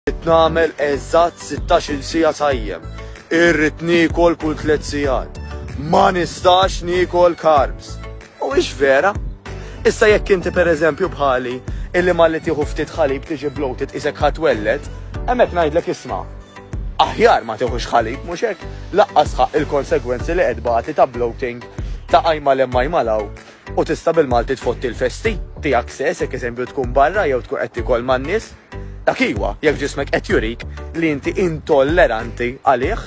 Irrid nagħmel eżatt 16-il siegħa sajjem. Irrid niekol kull tliet sigħat. Ma nistax niekol carbs. U ix vera? Issa jekk inti pereżempju bħali illi malli tieħu ftit ħalib tiġi bloated isek ħadd wellet, hemmhekk ngħidlek isma' aħjar ma tieħux ħalib mhux hekk laqqas ħaq il-konsegwenzi li qed bagħti ta' bloating ta' qajma lemma jmalaw u tista' bil-Malti tfotti l-festi tiegħek sess jekk eżempju tkun barra jew tkun qed tikol man-nies. Dak iwa, jekk ġismek qed jurik li inti intolleranti għalih.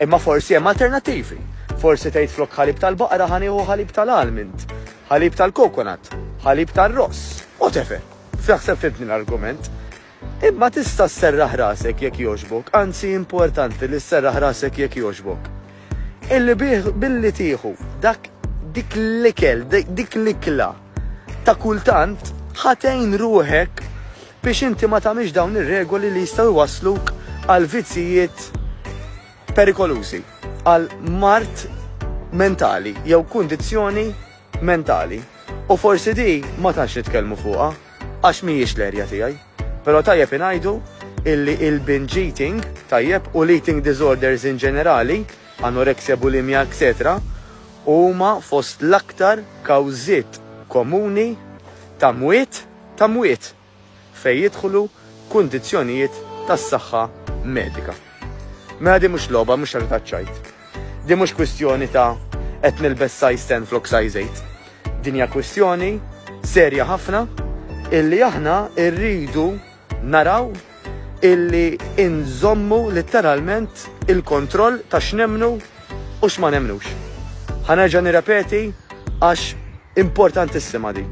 Imma forsi hemm alternattivi. Forsi tgħid flok ħalib tal-baqra ħa nieħu ħalib tal-almond, ħalib tal-kokonat, ħalib tar-ross, whatever. F'taħseb fimtni l-argument. Imma tista' sserraħ rasek jekk jogħġbok, anzi importanti li sserraħ rasek jekk jogħġbok. Illi bih, billi tieħu dak, dik l-ikel, dik l-ikla ta' kultant, ħa tgħin ruħek biex inti ma tagħmilx dawn ir-regoli li jistgħu jwassluk għal vizzijiet perikolużi, għal mart mentali jew kundizzjoni mentali. U forsi di ma tantx nitkellmu fuqha. Għax mhijiex l-erja tiegħi. Però tajjeb ingħidu illi il-binge eating, tajjeb, u l-eating disorders in ġenerali, anorexia, bulimia, etc, huma fost l-aktar kawżiet komuni ta' mwiet ta' mwiet fejn jidħlu kundizzjonijiet tas-saħħa medika. Mela din mhux logħba, mhux ħaġa taċ-ċajt. Din mhux kwistjoni ta' qed nilbes size 10 flok size 8. Din hija kwistjoni serja ħafna illi aħna rridu naraw illi inżommu litteralment il-kontroll ta' x'nemmnu u x'ma nemmnux. Ħa nerġa' nirrepeti għax Importantissima din.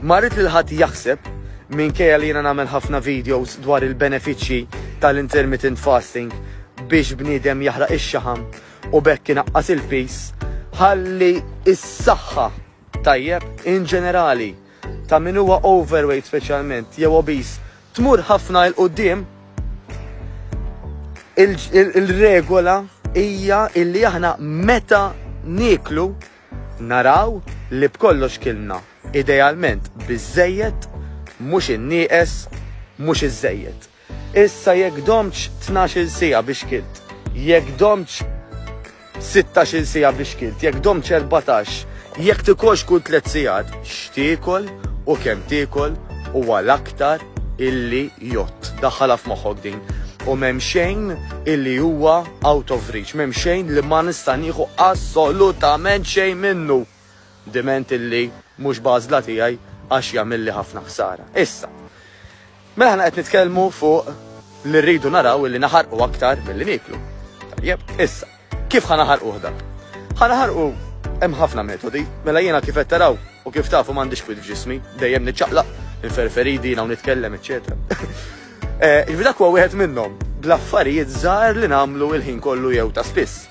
Ma rrid lil ħadd jaħseb, minkejja li jiena nagħmel ħafna videos dwar il-benefiċċji tal-intermittent fasting biex bniedem jaħraq ix-xaħam u b'hekk inaqqas il-piż, ħalli s-saħħa tajjeb in ġenerali ta' min huwa overweight speċjalment jew obese tmur ħafna il qudiem il-regola hija illi aħna meta nieklu Naraw li b'kollox kilna, idealment, biżżejjed, mhux innieqes, mhux iżżejjed. Issa jekk domtx tnax-il siegħa biex kilt, jekk domtx sittax-il siegħa biex kilt, jekk domtx erbatax, jekk tikolx kull tliet sigħat, x'tiekol u kemm tiekol u għal aktar, illi jott. Daħħalha f'moħħok din. U m'hemm xejn illi huwa out of reach, m'hemm xejn li ma nista' nieħu assolutament xejn minnu. Diment illi mhux b'għażla tiegħi għax jagħmilli ħafna ħsara. Issa, mela aħna qed nitkellmu fuq li rridu naraw illi naħarqu aktar milli nieklu. Tajjeb, issa. Kif ħa naħarquh dan? Ħa naħarqu hemm ħafna metodi, mela jiena kif qed taraw u kif tafu m'għandix kwid f'ġismi, dejjem niċċaqlaq, inferferidi, naw nitkellem, eċċetera. Eh, Ġifi dak huwa wieħed minnhom, bl-affarijiet żgħar li nagħmlu il-ħin kollu jew ta' spiss.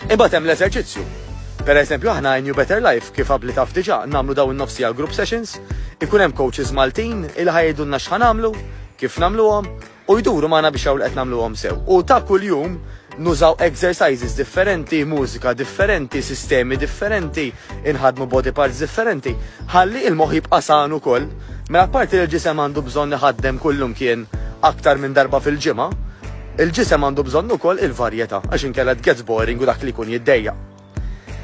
Imbagħad hemm l-eżerċizzju. Per eżempju, aħna New Better Life kif qabli taf diġà nagħmlu dawn nofsi għal group sessions, ikun hemm coaches Maltin il ħajdunna x'ħan nagħmlu, kif nagħmluhom, u jduru magħna biex jaraw li qed nagħmluhom sew. U ta' kuljum nużaw exercises differenti, mużika differenti, sistemi differenti, inħadmu body parts differenti, ħalli il-moħħ jibqa' san ukoll. Mela parti li l-ġisem għandu bżonn iħaddem kullum kien aktar minn darba fil-ġimgħa, il-ġisem għandu bżonn ukoll il-varjetà għax inkella gets boring u dak li jkun jiddejja.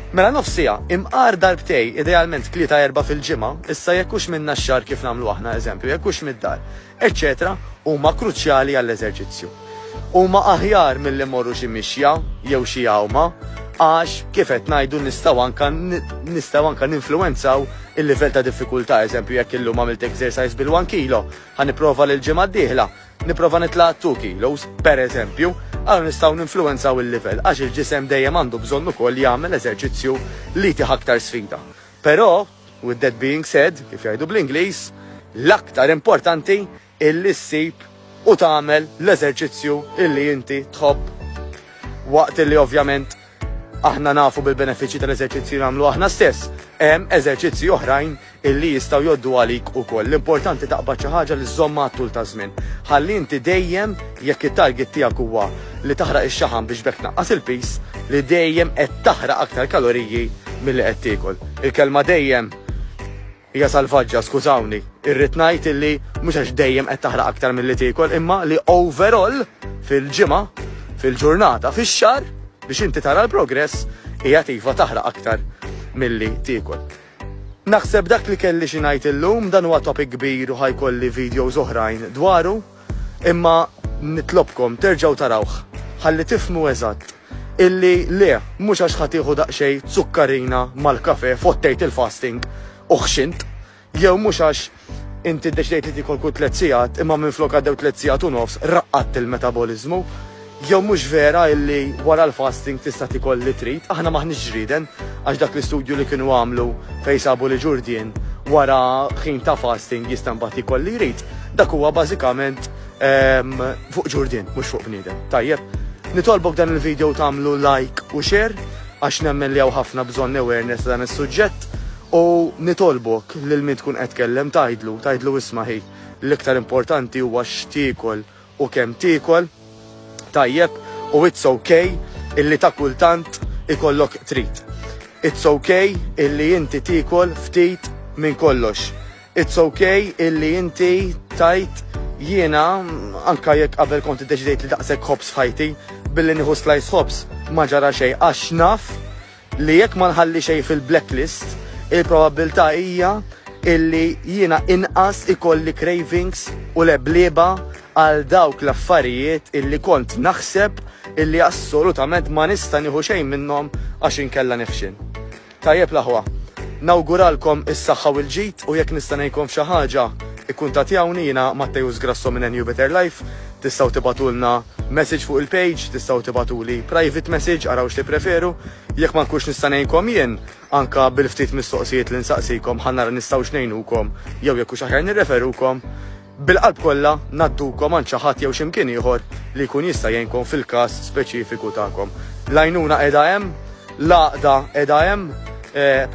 Mela nofsija, imqar darbtej, idealment tlieta erba fil-ġimgħa, issa jekkux minna x-xar kif nagħmlu aħna eżempju, jekkux mid-dar. eċċetera huma kruċjali għall-eżerċizzju. Huma aħjar milli mmorru xi mixja jew xi għawma għax kif qed ngħidu nistgħu anka nistgħu anka ninfluwenzaw il-livell ta' diffikultà, eżempju jekk illum għamilt exercise bil-1 kilo, ħa nipprova lil ġimgħa d-dieħla, nipprova nitla' 2 kilos, per eżempju, għal nistgħu ninfluwenzaw il-livell għax il-ġisem dejjem għandu bżonn ukoll jagħmel eżerċizzju li tih aktar sfida. Però With that being said, kif jgħidu bl-Ingliż, l-aktar importanti illi ssib u tagħmel l-eżerċizzju illi inti tħobb. Waqt illi ovvjament aħna nafu bil-benefiċċji tal-eżerċizzju nagħmlu aħna stess, hemm eżerċizzji oħrajn illi jistgħu joddu għalik ukoll. L-importanti taqbad xi ħaġa li żommha għat-tul ta' żmien. Ħalli inti dejjem Jekk it-target tiegħek huwa li taħraq ix-xaħam biex b'hekk tnaqqas il-piż, li dejjem qed taħraq aktar kaloriji milli qed tiekol. Il-kelma dejjem hija salvaġġa, skużawni. Irrid ngħid illi mhux għax dejjem qed taħraq aktar milli tiekol imma li overall fil-ġimgħa, fil-ġurnata, fix-xahar, biex inti tara l-progress, qiegħed iva taħraq aktar milli tiekol. Naħseb dak li kelli xi ngħid illum, dan huwa topic kbir u ħa jkolli videos oħrajn dwaru, imma nitlobkom terġgħu tarawh ħalli tifhmu eżatt illi le, mhux għax ħa tieħu daqsxejn zukkarina mal-kafè fottejt il-fasting u ħxint, jew mhux għax Inti ddeċidejt li tiekol kull tliet sigħat imma minflok għaddew tliet sigħat u nofs, raqqadt il-metaboliżmu. Jew mhux vera illi wara l-fasting tista' tiekol li trid? Aħna m'aħniex ġrieden għax dak l-istudju li kienu għamlu fejn sabu li Ġurdien wara ħin ta' fasting jista' mbagħad jiekol li jrid, dak huwa bażikament fuq Ġurdien mhux fuq bniedem. Tajjeb? Nitolbok dan il-video tagħmlu like u share għax nemmen li hawn ħafna bżonn awareness ta' dan is-suġġett. U nitolbok lil min tkun qed tkellem tgħidlu, tgħidlu isma' ħi, l-iktar importanti huwa x'tiekol u kemm tiekol, tajjeb, u it's ok illi ta' kultant ikollok trid. It's ok illi inti tiekol ftit minn kollox. It's ok illi inti tgħid jiena anke jekk qabel kont iddeċidejt li daqshekk ħobż f'ħajti billi nieħu slajs ħobż ma ġara xejn għax naf Li jekk ma nħalli xejn fil-blacklist, il-probabbiltà hija illi jiena inqas ikolli cravings u leblieba għal dawk l-affarijiet illi kont naħseb illi assolutament ma nista' nieħu xejn minnhom għax inkella nifxin. Tajjeb l-aħwa. Nawguralkom is-saħħa u l-ġid u jekk nista' ngħinkom f'xi ħaġa, ikkuntattjawni jiena Matteus Grasso minn NU Better Life, Tistgħu tibgħatulna message fuq il-page, tistgħu tibgħatuli private message, araw x'tippreferu. Jekk ma nkunx nista' ngħinkom jien, anke bil-ftit mistoqsijiet li nsaqsikom ħa nara nistgħux ngħinukom jew jekk hux aħjar nirreferukom. Bil-qalb kollha ngħaddukom għand xi ħadd jew x'imkien ieħor li jkun jista' jgħinkom fil-każ speċifiku tagħkom. L-għajnuna qiegħda hemm, l-għaqda qiegħda hemm,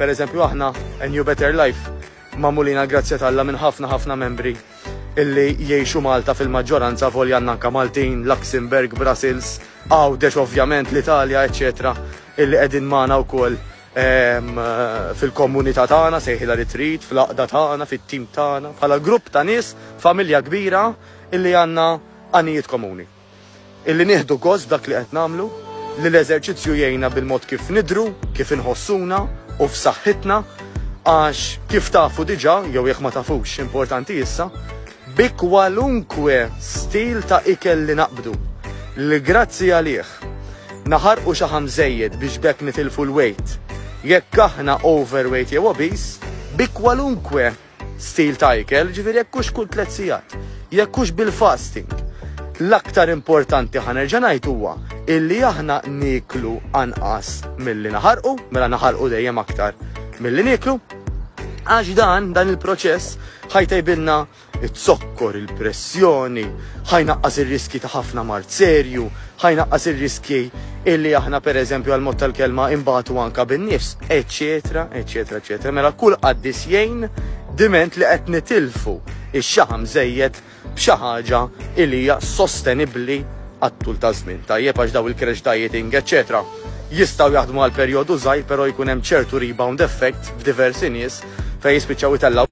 pereżempju aħna, New Better Life, magħmulin għall-grazzja t'Alla minn ħafna ħafna membri illi jgħixu Malta fil-maġġoranza avolja għandna anke Maltin, Luxembourg, Brussels, Għawdex ovvjament, l-Italja, eċċetera illi qegħdin magħna wkoll fil-kommunità tagħna, sejħilha li trid, fl-għaqda tagħna, fit-tim tagħna, bħala grupp ta' nies, familja kbira illi għandna għanijiet komuni. Illi nieħdu gost f'dak li qed nagħmlu, li l-eżerċizzju jgħinna bil-mod kif nidhru, kif inħossuna u f'saħħitna għax kif tafu diġà, jew jekk ma tafux, importanti issa, bi kwalunkwe stil ta' ikel li naqbdu, li grazzi għalih naħarqu xaħam żejjed biex b'hekk nitilfu l-weight, jekk aħna overweight jew obese, bi kwalunkwe Stil ta' ikel, ġifieri jekk hux kull tliet sigħat, jekk hux bil-fasting. L-aktar importanti ħa nerġa' ngħid huwa illi aħna nieklu anqas milli naħarqu, mela naħarqu dejjem aktar milli nieklu, għax dan dan il-proċess ħajtejbilna it-zokkor, il-pressjoni, ħajnaqqas ir-riski ta' ħafna mart serju, Ħa jnaqqas ir-riskji illi aħna pereżempju għall-mod tal-kelma inbatu anke bin-nifs, eċċetera, eċċetera, eċċetera. Mela kull qaddis jgħin diment li qed nitilfu x-xaħam żejjed b'xi ħaġa illi hija sostenibbli għat-tul taż-żmien. Tajjeb għax daw il-crash dieting, eċċetera, jistgħu jaħdmu għal perjodu żgħir però jkun hemm ċertu rebound effect f'diversi nies fejn jispiċċaw itellgħu